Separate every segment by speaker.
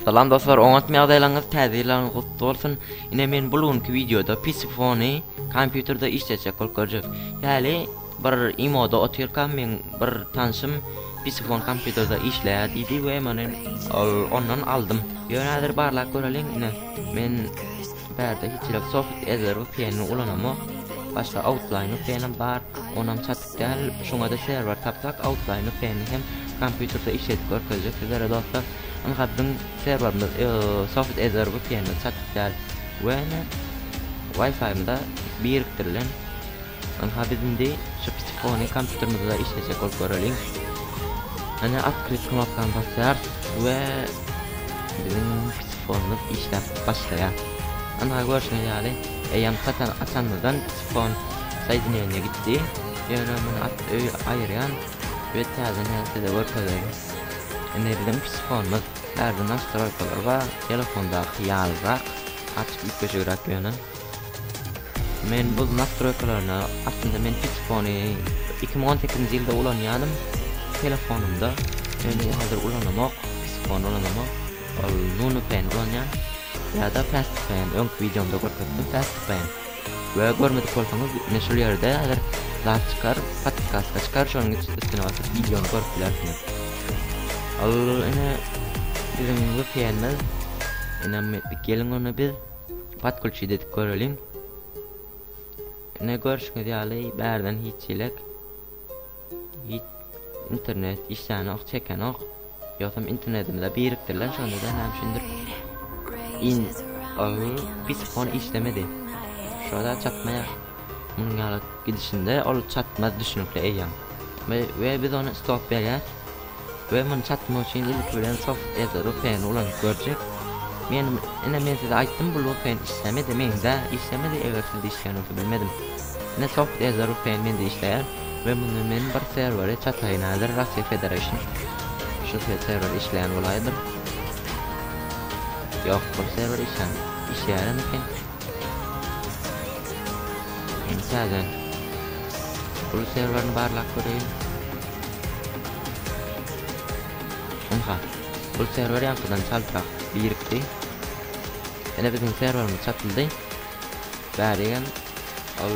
Speaker 1: Salam dostlar, oňatmy ýagdaýlaryňyz, täze ýyllaryňyz gutly bolsun. Ine men bu günki wideoda PC fony kompýuterde işleýjek bolup görjek. Ýaly Bir imoda otyrkam meň bir tanşym Pisifon kompýuterde işleýär diýdi we meni ol ondan aldym. Ýöne häzir barlap göreliň ine men bärde hiçhili soft edder vpn-i ulanamok. Başga outline vpn-im bar onam çatyk däl şoňada serwer tapsak outline vpn-i hem kompýuterde işledip görkezjek sizlere dostlar. Ynha biziň serwerimiz soft edder vpn-i çatyk däl we ine wifi-mda birikdirilen. Ynha biz indi şu kiçikony kompýuterimizde işlejek bolup göreliň. Ana atkryt knopkany basýarys we biziň kiçikonymyz işläp başlaýar. Ynha görşüňiz ýaly, eýýäm satar açanymyzdan kiçikon soýdineniýe gitdi. Ýöne muny at öý aýyrýan we täzeden size görkezeýin. Indi biziň kiçikonymyz bärde nastroýkalar bar, telefondaky ýalyrak, açyk üýtgeşigräk ýöne. Men buz nastroýkalaryna aslynda men fitspony iki müň on sekizinji ýylda ulanýanym telefonymda indi hazir ulanamok fitspony ulanamok ol nunupen ulanýan ýada fastpen öňki wideomda görkezdim fastpen we görmedik bolsaňyz ine şul ýerde hazir zat çykar podkaska çykar şonuň üstüne basyp wideony görüp bilersiňiz ol ine biziň vpnimiz ine geliň ony biz Podkulçyda edip göreliň. Ine görşüňiz ýaly bärden hiç çilek hiç internet işlänok çekenok. Ýogsam internetimize birikdirilen şonda-da näme üçindir in agy bispon işlemedi. Şoda çatmaýar. Munuň ýaly gidişinde ol çatmaz düşünikli eýýäm. We biz ony stop berýär. we muny çatmak üçin ilki bilen soft ed rupen ulanyp görjek. Men ine men size aýtdym bu rupen işlemedi mende işlemedi eger sizde işleýän bolsa bilmedim. Ine soft ed rupen mende işleýär we muny men bir serwere çataýyn häzir Russia Federation şu serwer işleýän bolaýdyr. Ýok bu serwer işleýän işleýärem eken. Indi täze uly serwerini barlap göreýin. Ynha, bul serwer ýaňkydan çaltrak birikdi. Ine biziň serwerimiz çatyldy. Bärigem ol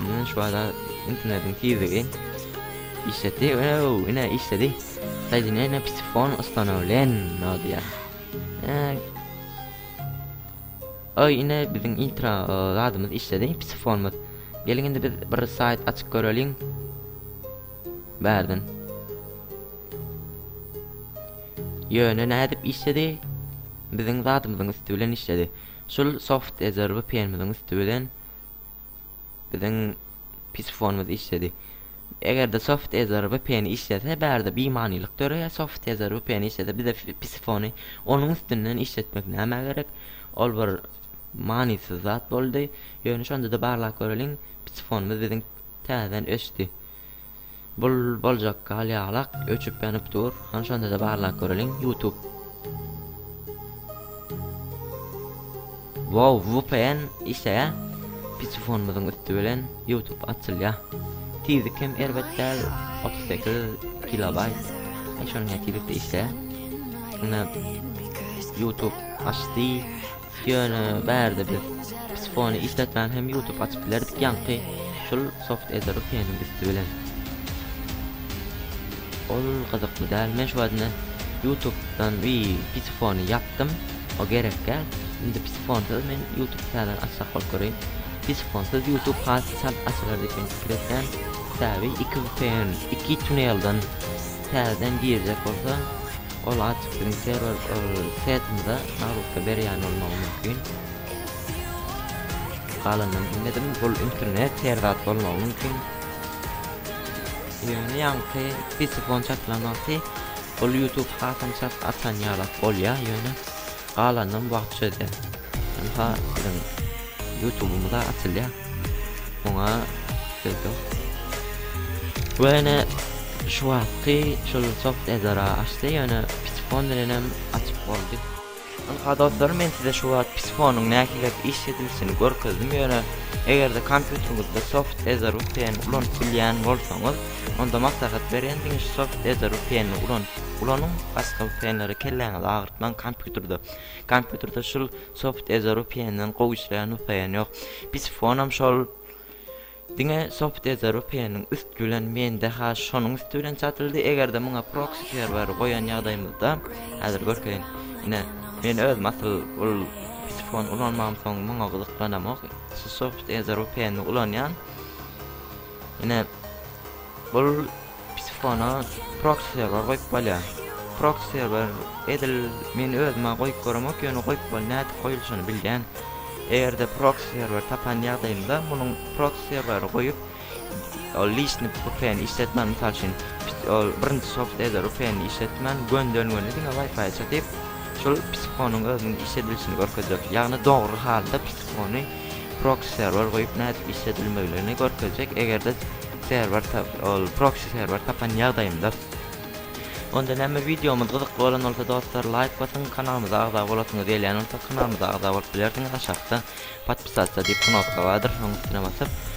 Speaker 1: Münün şu adam internetiň tizligi işledi. Ow, ine işledi. Soedineniye psifon ustanovlen no diýä. Oy, ine biziň intro zadymyz işledi, psifonymyz. Geliň indi biz bir sayt açyp göreliň. Bärden. Ýöne nädip işledi? Biziň zadymyzyň üstü bilen işledi. Şul soft edarby penimiziň üsti bilen biziň pisifonymyz işledi. Egerde soft edarby peni işlese bärde bimanylyk döreýär soft edarby peni işlese bize pisifony onuň üstünden işletmek nämä gerek ol bir manysyz zat boldy ýöne şondada barlap göreliň pisifonymyz biziň täzeden öçdi. Bul boljak gal ýalak öçüp ýanyp dur han şondada barlap göreliň ýutub. Wow vpn işleýä pisifonymyzyň üsti bilen ýutub açylýa tizlik hem erbet däl otuz sekiz kilobaýt eý şonuň ýa tizlikde işleýä ine ýutub açdy Ýöne bärde biz psifony işletmän hem ýutup açyp bilerdik ýaňky şul soft eder peniň üsti bilen. Ol gyzykly däl men şu wagtyna ýutupdan bi psifony ýapdym o gerekkä indi psifonsyz men ýutup täzeden açsak bolup göreýin psifonsyz ýutup has çalt açylar diýip men pikir etýän sebäbi iki vpn iki tunelden täzeden girjek bolsa Ol adresiniň serwer saýtynda naglatma berýän bolmagy mümkin. Galanyny bilmedim, bul internet her zat bolmagy mümkin. Ýöne ýaňky PC fon çakylan wagty bul YouTube hasabyny çap atan ýalak bolýar ýöne Galanynam wagty çözýä. Ynha biziň ýutubymyza atylýa. Oňa söz ýok. Bu ene şu wagtky şul soft edara açdy ýöne pisifon bilenem açyp boldy. Ynha dostlarym men size şu wagt pisifonyň nähilek iş edilişini görkezdim ýöne egerde kompýuteriňizde soft edar vpn ulanyp bilýän bolsaňyz onda maslahat berýän diňe şu soft edar vpn-ni ulanyp ulanyň başga vpn-lere kelläňizi agyr Maň kompýuterde kompýuterde şul soft eze rupiyenden gowy işleýän nusaýan ýok. Biz fonam şol diňe soft eze rupiyeniň üst bilen mende ha şonuň üsti bilen çatyldy egerde muňa proksi serwer goýan ýagdaýymyzda hazir görkeýin. Ine men özüm asyl ol pis fon ulanmam soň muňa gyzyklanamok. Şu soft eze rupiyeni ulanýan. Ine Bul psifona proxy serwer goýup bolýa. Proxy serwer edil men özüme goýup göremok ýöne goýup bol nädip goýulşyny bilýän. Egerde proxy serwer tapan ýagdaýymda munuň proxy serweri goýup ol lişni vpn işletmän mysal üçin ol birinji soft eder vpn işletmän gönden göni diňe wifi çekip şul psifonyň özüniň işledilişini görkezjek. Ýagny dogry halda psifony proksi serwer goýup nädip işledilmegligini görkezjek egerde serwer ol proksi serwer tapan ýagdaýymda onda näme wideomyz gyzykly bolan bolsa dostlar laýk basyň kanalymyza agza bolasyňyz gelýän bolsa kanalymyza agza bolup bilersiňiz aşakda podpisatsa diýip knopka bardyr şonuň üstüne basyp